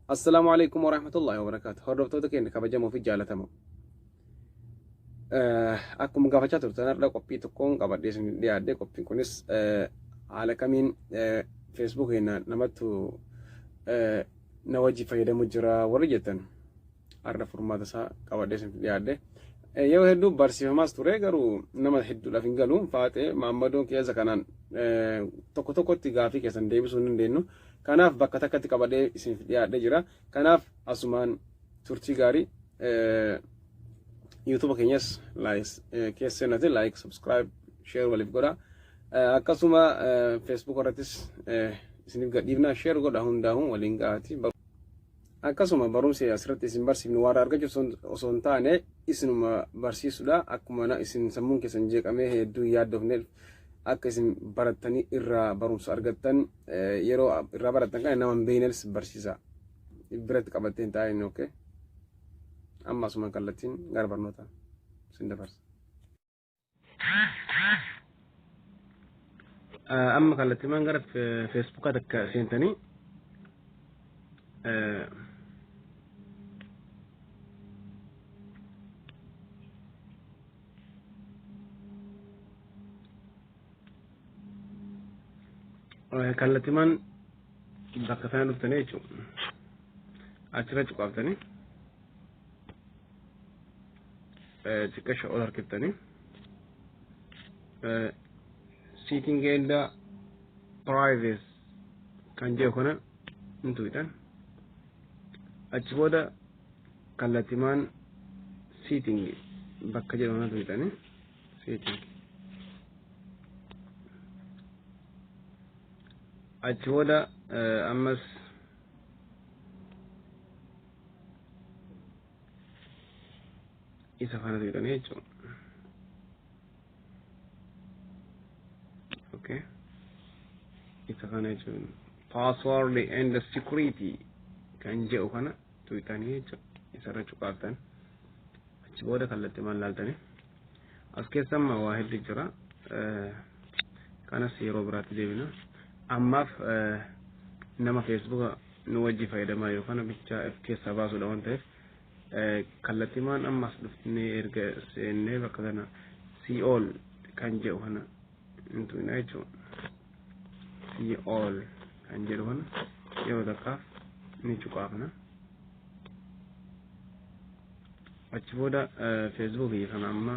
Assalaamu alaikum warahmatullahi wabarakatuh. Hordoftoota keenya kabajamoo fi jaalatamoo. Akkuma gaafachaa turtan har'a qophii tokkoon qabadhee isin dhiyaadhe qophiin kunis haala kamiin feesbuuk keenya namattu na wajji fayyadamu jira warri jettan. har'a furmaata isaa qabadhee isin dhiyaadhe. Yeroo hedduu barsiifamaas ture garuu nama hedduudhaaf hin galu. Faaxee maammadoon keessa kanaan tokko tokkotti gaafii keessan deebisuu hin dandeenyu. Kanaaf bakka takkatti qabadhee isin dhiyaadhee jira. Kanaaf asumaan turtii gaarii yuutuuba keenyas keessa seenatiin laayik subscribe sheer waliif godha. Akkasuma feesbuuk irrattis isiniif gadhiifna sheer godha hundaa'uun waliin gahaati. Akkasuma barumsi asirratti isin barsiifnu waarra argachuuf osoo hin taane isinuma barsiisudha. Akkuma na isin sammuun keessan jeeqamee hedduu hin yaaddofneef akka isin barattanii irraa barumsa argattan eh, yeroo irraa barattan kana nama hin beeknes barsiisa. Biratti qabattee hin taa'in okay. Amma asumaan kallattiin gara barnootaa isin dabarsa. amma kallattimaan gara feesbuukaa takka seentanii kallattimaan bakka sana dhuftanii jechuudha achirra cuqaaftanii xiqqasha ol harkiftanii seeking and privacy kan jedhu kana hin tuqxan achi booda kallattimaan seeking bakka jedhu kana tuqxanii seeking achi booda ammas isa kana seetanii jechuudha. Okay. Isa kana jechuun password and security kan jedhu kana tuqxanii jechuudha. Isarra cuqaaftan achi booda kallattii maal laaltanii as keessa amma waa heddu jira. Kanas yeroo biraatti deebina. Ammaaf nama feesbuuka nu wajji fayyadamaa jiru kana bichaa if keessaa baasuudha waan ta'eef kallattimaan ammas dhufnee erga seennee bakka kana si'ool kan jedhu kana hin tuqina jechuudha. Si'ool kan jedhu kana yeroo takkaaf ni cuqaafna. Achi booda feesbuukii kana amma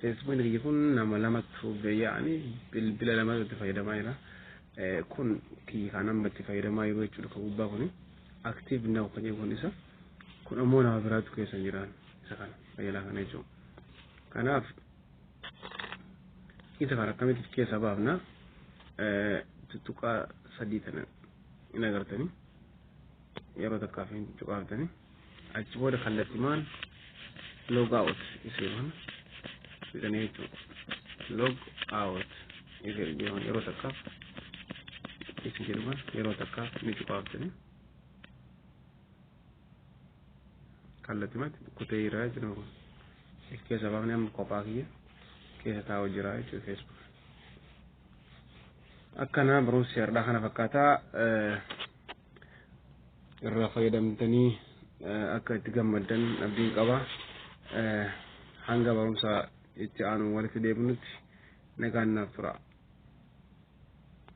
Feesbuukiin kiyya kun nama lamatu beeya'ani bilbila lama irratti fayyadamaa jira. Kun kiyya kan amma itti fayyadamaa jiru jechuudha kan gubbaa kuni. Aktiiv naw kan jedhu kun isa. Kun ammoo nama biraatu keessa hin jiraan isa kana fayyalaa kana jechuudha. Kanaaf isa kana akkamitti keessa baafna tuttuqaa sadii tana hin agartanii yeroo takkaaf hin cuqaaftanii. achi booda kallattimaan log out isii mana fidanii jechuudha log out isii jechuun yeroo takkaaf isii jedhuman yeroo takkaaf ni cufaafsine kallattimatti kutee jira jechuudha kun if keessa baafne amma kophaa kiyya keessa taa'u jira jechuudha feesbuuk akkana barumsi har'aa kana fakkaataa irraa fayyadamtanii akka itti gammaddan abdiin qaba. Hanga barumsa itti aanu walitti deebinutti nagaan naaf tura.